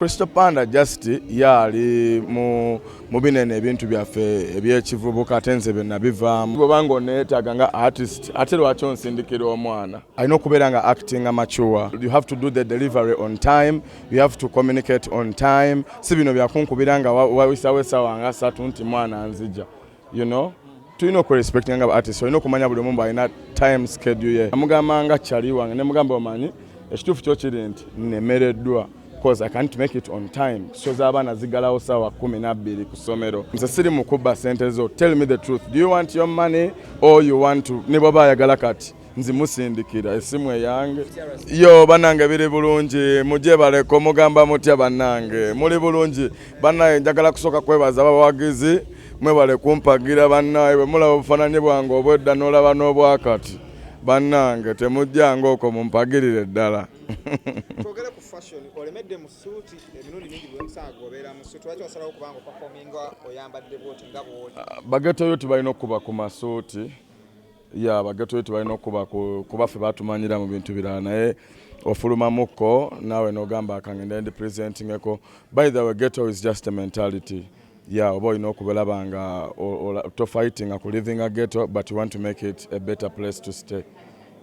Crystal Panda just yaali mu mubinene ebintu byaffe ebyekivubuka ate nze byenabivaamu bwobanga oneetaaga nga artist ate lwaki onsindikira omwana alina okubeera nga acting amature you have to do the delivery on time you have to communicate on time si bino byakunkubira nga wawisawo esawa nga satu nti mwana nzija you know tulina okurespektinga nga baartist olina okumanya buli omu mbu alina time schedule ye amugamba nga kyali wange ne mugamba omanyi ekituufu kyo kiri nti nemereddwa cause i can't make it on time so z'abaana zigalawo saawa kumi nabbiri ku ssomero nze siri mukubba sente zo tell me the truth do you want your money or you want to ne bwaba ayagala kati nzimusindikira esimu eyange yo banange biri bulungi mujebaleko mugamba mutya banange muli bulungi banaye njagala kusooka kwebaza bawagizi mwebale kumpagira banaye bwemulaba obufananye bwange obwedda nolaba n'obwakati banange temujjanga oko mumpagirire ddala bagetoyoti balina okuba ku masuuti ya bagatoyi tebalina okuba kuba ffe batumanyira mu bintu birala naye ofulumamukko naawe nogamba akange ndi presentingeko by the way ghetto is just a mentality ya oba olina okubalaba nga to fighting a living a ghetto but you want to make it a better place to stay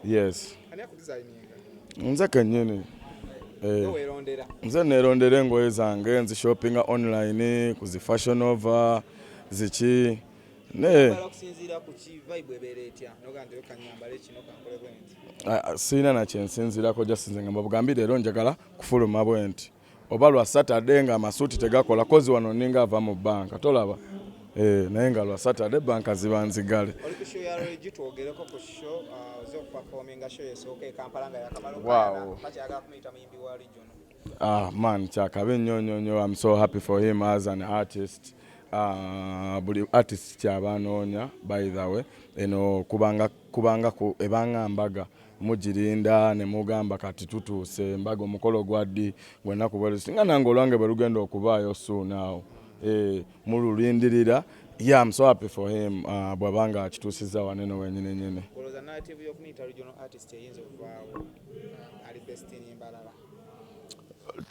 yes nze kenyini eh. nze nerondera engoye zange nzishoppinga online ku zi fashion over ziki naye sirina nakyensinzirako jasinze nga mbabugambi leero njagala kufuluma bwenti oba lwa saturday nga amasuuti tegakola kozi wano ninga ava mu banka tolaba eh, naye nga lwa saturday banka ziba nzigale uh, wow. Ah man kyakabi nnyo nnyo nnyo I'm so happy for him as an artist uh, buli artist kyaba anoonya by the way eno kubanga kubanga ku ebanga mbaga mugirinda ne mugamba kati tutuuse mbaga omukolo gwa ddi gwennaku bwe singa nange olwange bwe lugenda okubaayo suunaawo eh, mululindirira Yeah, I'm so happy for him. Uh, bwabanga akitusiza wane no wenyine nyine. Koloza narrative yokumita regional artist eyinza okuvaawo uh, ali best in Mbarara.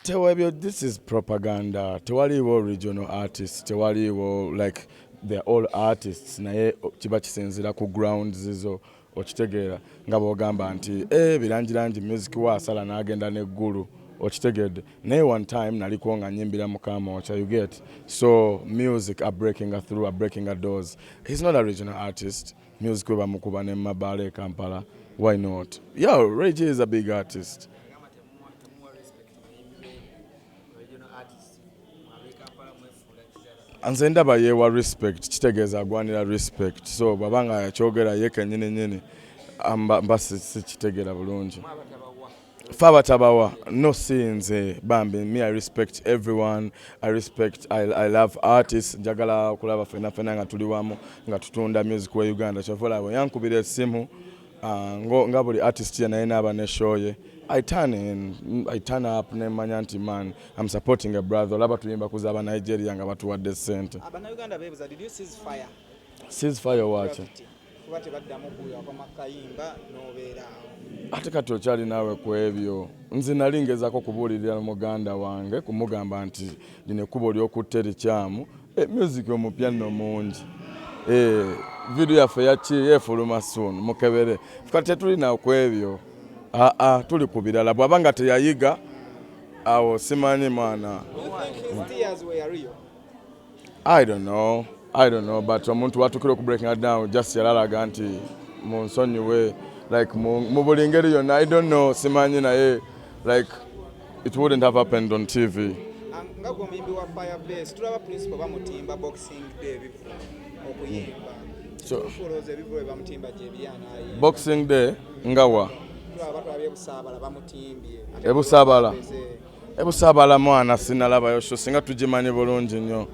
tewebyo this is propaganda tewaliiwo regional artist tewaliiwo like they're all artists naye kiba kisinzira ku ground zizo okitegeera nga bwogamba nti e birangirangi music wa asala n'agenda n'eggulu okitegedde naye one time naliko nga nyimbira mukamooca you get so music a breaking a through a breaking a doors he's not a regional artist mm. Music we bamukuba ne mabaala e Kampala. Why not? Yeah, Ray J is a big artist. nze ndaba yewa respect kitegeeza agwanira respect so bwaba nga yakyogera ye kenyini nyini mba sikitegera bulungi Faba tabawa no sinze bambi me I respect everyone I respect I, I love artists njagala kulaba fena fena nga tuli wamu nga tutunda music wa Uganda kyavola we yankubira esimu uh, ngo nga buli artist yena yena aba ne show ye I turn in I turn up ne manya nti man I'm supporting a brother olaba tuyimba kuza aba Nigeria nga batuwadde sente Abana Uganda bebuza did you seize fire seize fire wacha kuba tebaddamu kuwulira kwama kayimba n'obeera awo ate kati okyali naawe ku ebyo nze nali ngezako kubuulirira muganda wange kumugamba nti lino ekkubo ly'okutte likyamu e, music omupya nno mungi e, vidiyo yaffe yaki yefuluma suun mukebere kati tetulina ku ebyo aa tuli ku birala bw'aba nga teyayiga awo simanyi mwana I don't know. I don't know but omuntu watukira oku breaking down just yalalaga nti munsonyiwe like mu buli ngeri yonna I don't know simanyi naye like it wouldn't have happened on TV nga gwe omuyimbi wa fire base tulaba principal bamutimba boxing day bivu okuyimba tufuloza ebivulo byebamutimba gyebyanayi boxing day ngawa tulaba batwabye busaabala bamutimbye ebusaabala ebusabala mwana sinalabayo sho singa tugimanyi bulungi nnyo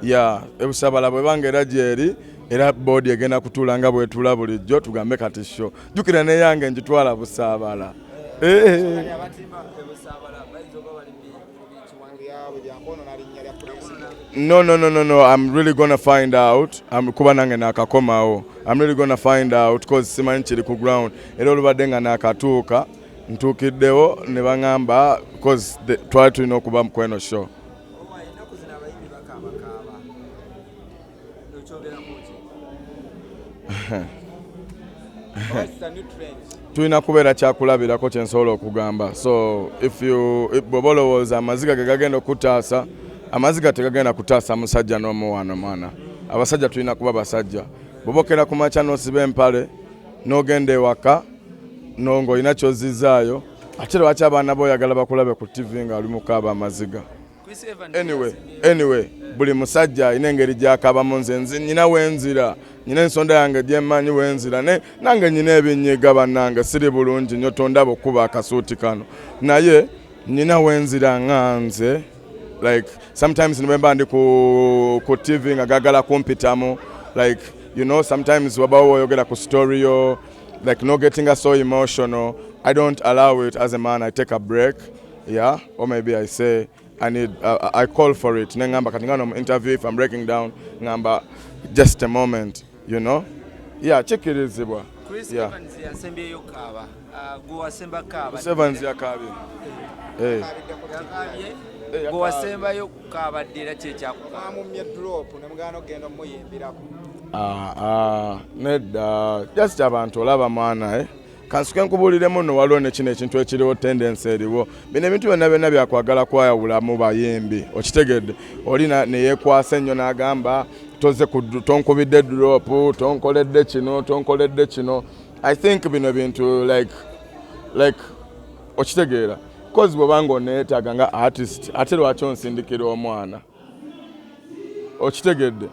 ya ebusabala bwebanga era gyeri era boodi egenda kutuula nga bwetula bulijjo tugambe kati sho jukira neyange njitwala busabala eh. no no no no no i'm really gonna find out i'm kuba nange nakakomawo i'm really gonna find out cause simanyi kiri ku ground era olubadde nga nakatuuka ntuukiddewo ne baŋamba bcause twali tulina okuba mu kweno show tulina kubeera kyakulabirako kyensobola okugamba so bwoba olowooza amaziga ge gagenda okukutaasa amaziga tegagenda kutaasa musajja n'omuwaano mwana abasajja tulina kuba basajja bwobokera ku makya nosiba empale n'ogenda ewaka no ng'olina ky'ozizzaayo ate lwaki abaana bo oyagala bakulabe ku ttivi ng'ali mukaaba amaziga anyway anyway buli musajja alina engeri gyakabamu nze nzi nyina wenzira nyina ensonda yange gyemanyi wenzira naye nange nyina ebinyiga bannange siri bulungi nyo tondaba okukuba akasuuti kano naye nyina wenzira nga nze like sometimes nimemba ndi ku, ku tv nga gagala kumpitamu like you know sometimes wabawo woyogera ku story yo like no getting us so emotional i don't allow it as a man i take a break yeah or maybe i say I need, uh, I call for it nengamba kati ngano interview if I'm breaking down ngamba just a moment you know ya kikkirizibwa gwewasembayo kukaaba ddira kyekyakukaamummye drop nemugana okugenda omuyimbirako ah, ah, nedda just abantu olaba mwana eh? kansuke nkubuulire muno waliwo ne kino ekintu ekiriwo tendensi eriwo bino ebintu byonna byonna byakwagala kwayawula mu bayimbi okitegedde oli neyekwasa ennyo n'agamba toze tonkubidde duropu tonkoledde kino tonkoledde kino i think bino bintu like like okitegeera kozi bwobanga oneetaaga nga artist ate lwaki onsindikira omwana okitegedde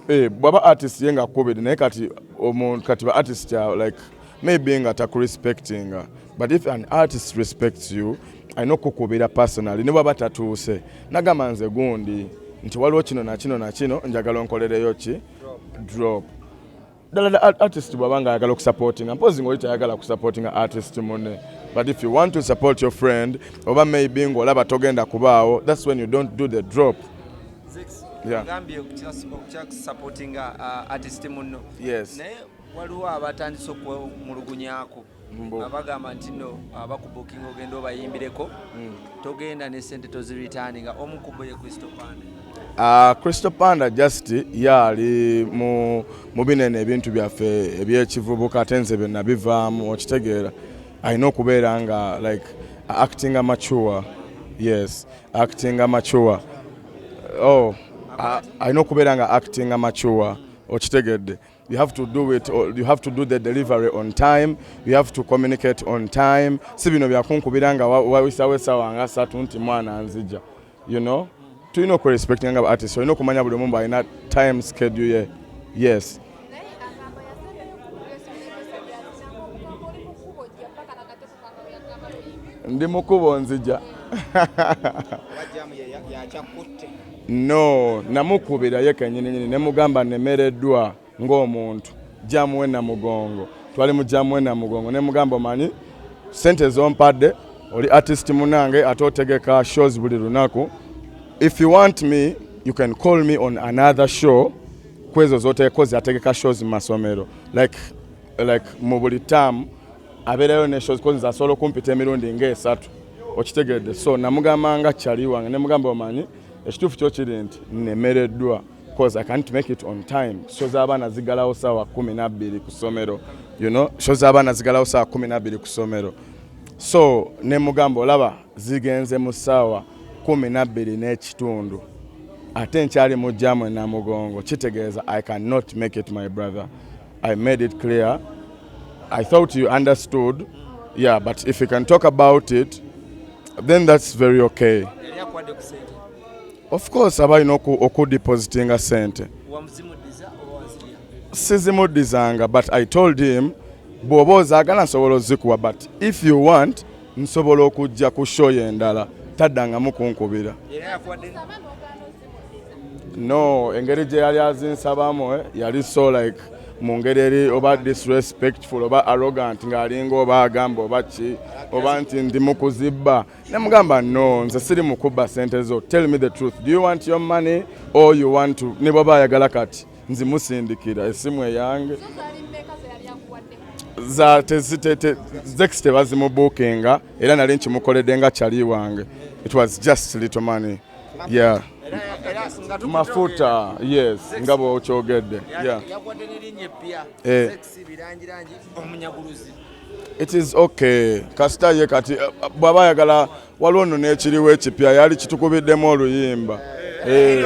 eh, bwaba artist ye nga akukubidde naye kati omuntu kati ba artist ya like maybe nga takurespectinga but if an artist respects you alina okukukubira personally ne bwaba tatuuse nagamba nze gundi nti waliwo kino nakino nakino njagala onkolereyo ki drop ddala da artist bwaba nga ayagala okusupportinga mpozi ngaoli tayagala kusupportinga artist mune but if you want to support your friend oba maybe ngaolaba togenda kubaawo thats when you don't do the drop gambye okyakusupportinga uh, artist muno naye waliwo abatandise okumulugunyako nga bagamba nti no abakubukinga ogenda obayimbireko hmm. togenda ne sente toziritaani nga omu kubo ye crystal panda Uh, Crystal Panda just yaali mu, mu binene ebintu byaffe ebyekivubuka ate nze byonna bivaamu okitegeera alina okubeera nga like acting amature yes acting amature oh alina okubeera nga acting amature okitegedde You have to do it, you have to do the delivery on time, you have to communicate on time. Si bino byakunkubira nga wawisawo esawa nga satu nti mwana nzija. You know? Tulina oku respect nga artist, olina okumanya buli omu alina time schedule ye. Yes. ndi mukubo nzija no namukubira ye kenyininyini nemugamba nemereddwa ng'omuntu jamu we namugongo twali mu jamu we namugongo nemugamba omanyi sente zompadde oli artist munange ate otegeka shows buli lunaku if you want me you can call me on another show kwezo zotekozi ategeka shows mu masomero like like mu buli taamu abeerayo ne shows kozi asobola okumpita emirundi ng'esatu okitegedde so namugamba nga kyali wange ne mugamba omanyi ekituufu kyo kiri nti nemereddwa cause i can't make it on time sho z'abaana zigalawo saawa kumi nabbiri ku ssomero you know sho z'abaana zigalawo saawa kumi nabbiri ku ssomero so ne mugamba olaba zigenze mu ssaawa kumi nabbiri n'ekitundu ate nkyali mu jamu enamugongo kitegeeza i cannot make it my brother I made it clear. I thought you understood. Yeah, but if you can talk about it, then that's very okay. Of course, abalina okudipositinga sente sizimudizanga but i told him bw'oba ozaagala nsobola ozikuwa but if you want nsobola okujja ku show endala taddangamu kunkubira no engeri gye yali azinsabamu eh, yali so like mu ngeri eri oba disrespectful oba arrogant ng'alinga oba agamba oba ki oba nti ndi mu kuzibba ne mugamba no nze siri mu kubba sente zo tell me the truth do you want your money or you want to ne bwaba ayagala kati nzimusindikira esimu eyange zex tebazimubuukinga era nali nkimukoledde nga kyali wange it was just little money yeah. mafuta yes nga bwokyogedde yeah. eh. it is okay kasita ye kati eh, bwaba ayagala waliwo no nekiriwo ekipya yali kitukubiddemu oluyimba eh.